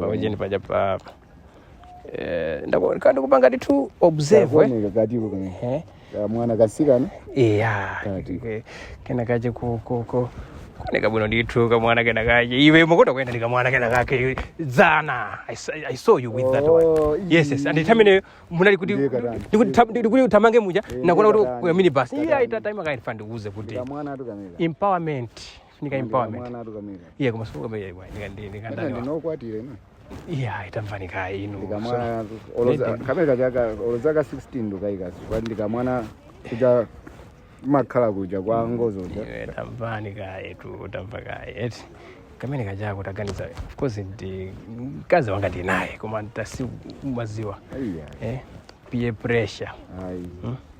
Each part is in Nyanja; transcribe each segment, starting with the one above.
paujeni paja pa eh, ndako- ndikupanga ndithu observe eh. kakuoneka katiko kane Eh. kamwana kasikana iya Kati. ke- kena kake ku- ku- ku- kuoneka bwino ndithu kamwana kena kake iwe umakonda kuyenda ndi kamwana kena kake dzana I s- I saw you with that Oh, one yes yes nthawi imene munali kuti Ndiye katani. ndikuti tam- ndikuti utamange muja Eh, ndakuona ndiye kuti katani. kuja minibus iya Katani. itata ndimakafuna ndikuuze kuti kamwanatu kameneka empowerment zifunika empowerment mwana atukamira iye koma sikukamira iwe ndika- ndi- ndika- Ena ndani wa- ndinu okwatira ino iya tamvani kaye inu ndikamwana oloza kamene kachaka olozaka 16 ndikakayika kwa ndikamwana kuja makhala kuja kwa ngozo kuja Iwe tamvani kaye tu tamva kaye eti kamene kajako taganiza of course ndi mkazi wanga ndinaye koma ntasi umadziwa aiya eh peer pressure ayi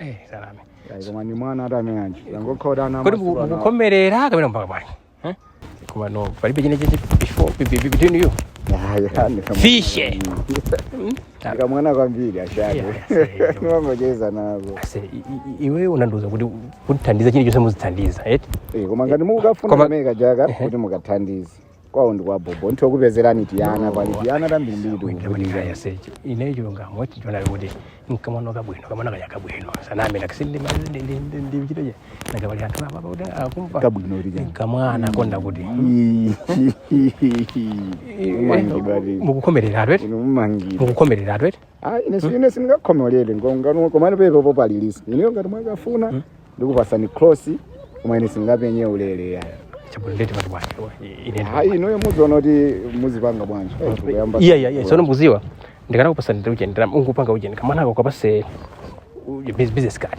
Eh, salame. Ayi, koma ndi mwana ati amene anji angokhoda ana Kodi amasuku anawo. mukukomerera kapena mpaka bwanji? Eh? Koma no, palibe chine cheche before be- be- be- between you. Ya, ya, ni kama- Fishe. Ndi kamwana kwambiri ashake Yeah, yeah. ndimangocheza nako Ase, i- i- iwe unandiuza kuti mundithandiza chine chonse mundithandiza, eti? Eh, koma ngati mukafuna Koma- kamene kajaka kuti mukathandize kwawo ndi kwa bobo nditha kupezerani tiyana pali tiana tambirimbiri Wina tikugulira kaya sechi. Ine chilungamo chonena kuti nkamwana kabwino kamwana kaja kabwino. Sanambe nakisindi mali ndi ndi ndi ndi mchito je. Nanga pali anthu apa kuti akumva. kabwino tija Kamwana konda kuti. umangidwa ti Mukukomerera atwete. inu umangidwa Mukukomerera atwete. ayi ine si- ine sindingakomere ngongano komano pepe palilisa inuyo ngati mwakafuna ndikupatsani cross koma ine sindingapange ulele ya chabwino ndeti pati bwanji ine ayi inuyo muziona kuti muzipanga bwanji Eh, tikuyamba- iya iya iya sono mukudziwa ndikanakupatsa ndiye ujeni ndiye ungopanga ujeni kamwanako kapatse uje bus- business card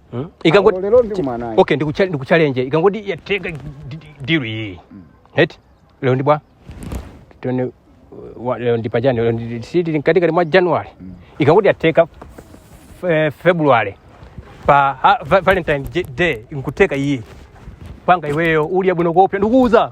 Hmm? Ikangoti Ah, lero ndikumana ayi. Okay, ndikucha- ndikuchallenge. Ikangoti yatheka di- di- deal iyi. Eti? Lero ndi bwa. Tione uh, wa- lero ndi pachani lero ndi si tili mkatikati mwa January. Ikangoti yatheka eh, February pa ha- va- Valentine J- Day nkutheka iyi. Panda iweyo uli abwino kopya ndikuuza.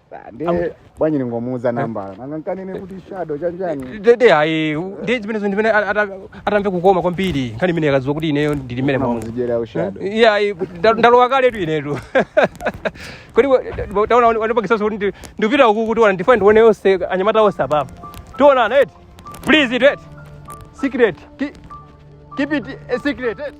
ndiye bwanji ningomuuza nambala nanga ndikanene kuti shadow chanjani dede ayi ndiye zimenezo ndimene atamve kukoma kwambiri nkhani imene akakadziwa kuti ineyo ndili mmene momo mudziwira ushadow iye ayi nda- ndalowa kaletu inetu kodi wa- taona wani- wandipangitsaso kuti ndi- ndipita uku kuti mwina ndifune ndione onse anyamata onse apapa tionana eti please it eti secret Ki- keep it a secret eti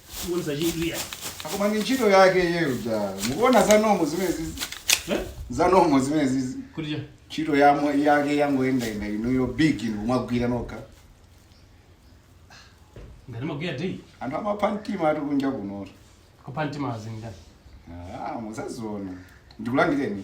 Kuonesa chidwi ya. Ah koma ndi ntchito yake iyeyo ja. Mukuona zanu zomwe zimenezi. Eh? Zanu zomwe zimenezi. Kuti cha. Ntchito yamwe yake yangoyenda yenda inuyo big inu mumagwira nokha. Ngati magwira day. Anthu amapha mtima ati kunja kuno. Kupha mtima azingani. Ah, muzaziona. Ndikulangizeni.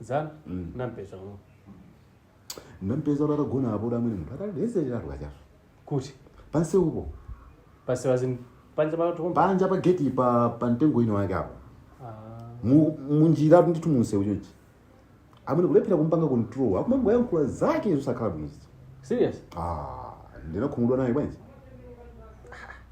zana Mm. nampeza uno nampeza kuti atagona apo amwene munthu atalezelera tukachaso kuti pansi upo pasiwa zinthu panja patokomba panja pa geti pa pa mtengo ino wake apo Mu- munjira ndithu munsewu chonchi amwene kulephera kuzipanga control akumangoyankhula zake zosakhala bwino serious ah ndinakhumudwa naye bwanji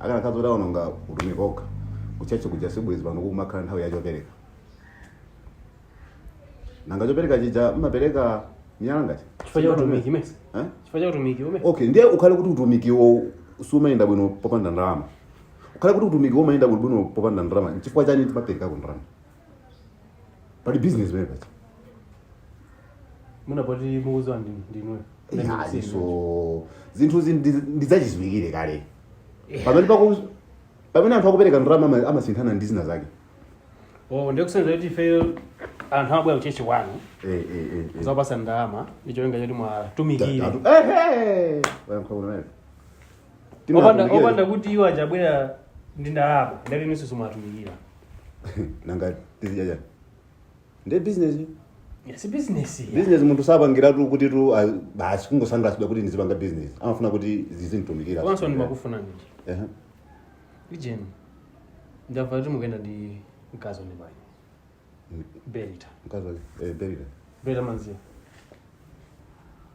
akanakhala zoti aononga utumiki okha kutchatchi kuja sibwezi pano kukumakhala nthawi ya chopereka nanga chopereka chija mmapereka miyala ngati chifukwa cha utumiki mesa Eh? chifukwa cha utumiki umene okay ndiye ukhale kuti utumikiwo sumayenda bwino popanda ndalama ukhale kuti utumikiwo umayenda bwino bwino popanda ndalama nchifukwa chani timaperekako ndalama pali business wewe paja mwina poti mukuziwa ndi- ndinu so zinthu zi ndi- ndizachiziwikire kale pamene paku pamene anthu akupereka ndalama ama- amasinthana ndi zina zake oh ndi kusonyeza kuti ife anthu amabwera kuchechi kwanu Eh, eh, eh, eh. kuzapasa ndalama ndicholinga choti muwatumikire Ta- ta- eh, eh. Wayankha bwino naye. Timu opanda yatumikira. opanda kuti iwo atabwera ndi ndalama ndati inuso simuwatumikira nanga tizidya chani nde business si business ya. business munthu sapangiratu kuti tu ah, basi kungosangasidwa kuti ndizipanga business amafuna kuti zizinditumikira komanso ndimakufuna nini Ehe. ijeni ndamva kuti mukuyenda ndi mkazi wa nini bwanji berita mkazi wake eh, berita berita mamdziwa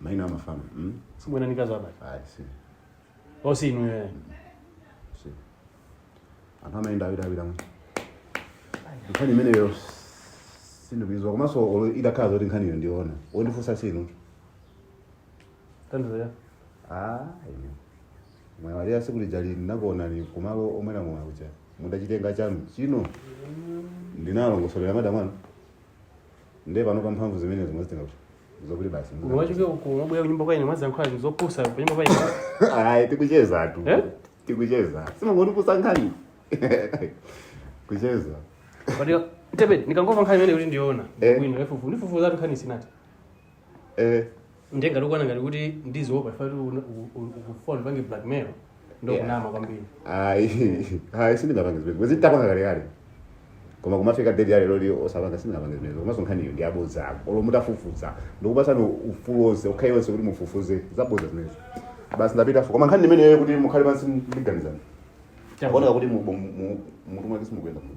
Maina amafanana. Mm? Simukuyenda ndi mkazi wa abale. Ayi, si. Osi inu yeye. Si. Anthu amayenda awiri awiri mu. Nkhani imeneyo sindikuyiziwa komanso olo idakhala zoti nkhaniyo ndiona. Wondifunsa si inu. Tandizo ya. Ah, ine. Mwaiwala siku lijali ndinakuonani kumalo omwera mwa uja. Mutachita manga chanuchino. Ndinalongosolera madam anu. Ndiye pano pa mphamvu zimenezi mwazitenga kuti. zokuti basi munthu- mwachoka uko mwabwera kunyumba kwa ine muziyankhula zinthu zopusa kunyumba kwa ine ayi tikucheza tu Eh? tikucheza simangoti kupusa nkhani kucheza Kodi tepe ndikangomva nkhani imene kuti ndiona Eh. ine ndifufu ndifufuza tu nkhani sinati eh ndiye mukuona ngati kuti ndiziopa mwati mukufuna mupange blackmail ndokunama kwambiri ayi ayi sindingapange zimene bwezi tapanga kalekale koma kumafika date ya leroli osapanga sindingapange zimenezo komanso nkhaniyo ndi abodza awo olo mutafufuza ndikupatsani ufulu onse ukhayi onse kuti mufufuze zabodza zimenezo basi ndapita fo koma nkhani imeneyo kuti mukhale pansi ndikuganiza akuoneka kuti mu- mu- mu- mmutu mwake simukuyenda mu-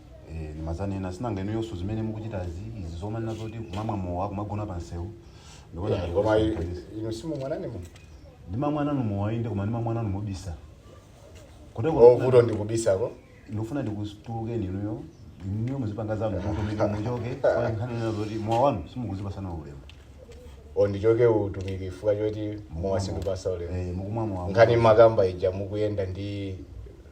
Eh, ndimadzanena sinanga inu yonso zimene mukuchitazi izi zomanena zoti kumamwa mowa kumagona pa msewu ndikuona ngati koma i- kusanganiza. inu simumwa nanu ndimamwa nanu mowa inde koma ndimamwa nanu mobisa koteroko vuto ndi kubisako ndikufuna ndikutulukeni inuyo inuyo muzipanga zanu mutumiki muchoke kwa nkhani ina zoti mowa wanu simukuzipasana ulemu o ndichoke utumiki chifukwa choti mowa sindikupasa ulemu Eh, mukumwa mowa nkhani mumakamba ija mukuyenda ndi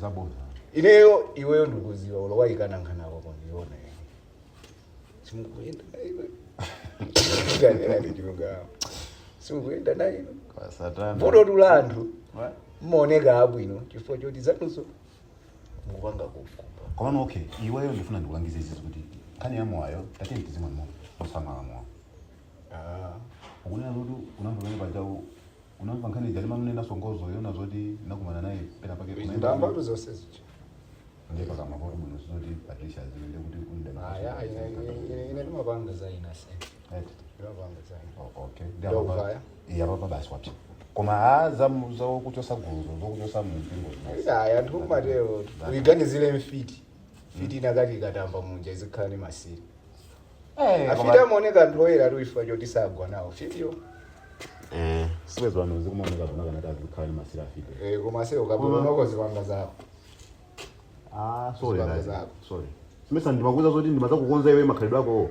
zabodza ineyo iweyo ndikuziwa olo wayikana nkhani yako koma ndikuona simukuyenda nayo tanenani chilungamo simukuyenda nayo kwa satana vuto tu la anthu Wa- mmaoneka abwino chifukwa choti zanuzo mukupanga kukupa komano okay iweyo ndifuna ndikulangize izizi kuti nkhani ya mowayo tateni tizimwe mosamala mowa Ah, ukunena kuti unamva pamene paja u- Unamva nkhani ija limanena songozo yona zoti anakumana naye pena pake kunaenda ndambatu zonse zija ndiye pakamwa poti muno zoti Patricia aziwe ndiye kuti kulida aya ine- ine- ine- ine ndimapanga za ina se Eti. ndimapanga za ina Oh, okay Ndiye Ndiye apa- kuvaya? Iya, apa basi wapita koma a za za kuchosa guluzo zokuchosa mumpingo aya anthu amatero uyiganizire mfiti fiti inakakhala ikatamba munja izikhala ni masiri Eh, afiti koma- amaoneka anthu oyera tu chifukwa choti sagwa nawo fitiyo Eh. sibwezi pano zikumaoneka zoona kunati azikhala ni masiri afiti Eh, koma ase ukabwera unoko zipanga zako Ah, sorry, Zipanga nazi. zako. Sorry. Simesa ndimakuuza zoti ndimazakukonza iwe makhalidwe ako.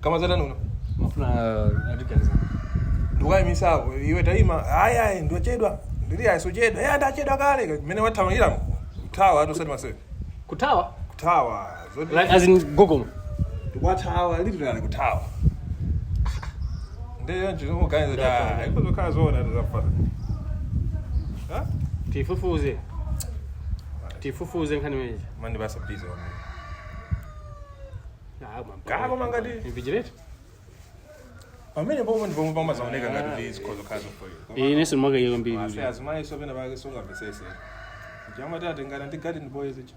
kama zatani uno mafuna atiganiza ndikukayimisako iwe tayima ayi ayi ndochedwa ndili ayi sochedwa ya ndachedwa kale mmene wathamangira kuthawa ati usati masewera kuthawa kuthawa zoti like as in gogomo wathawa literally kuthawa ndiye ndikungoganiza ta ikuzakhala zoona ati zafata ha tifufuze tifufuze nkhani imeneyi mandi basa busy wamene Kaya koma ngati- invigilator pamene pomwe ndi pomwe pamazaoneka ngati kuti zikhozokhazo ine sindimakaika Ase mbiri azimayi so pena pake sungamvesese ija amati atengana ndi garden boys icho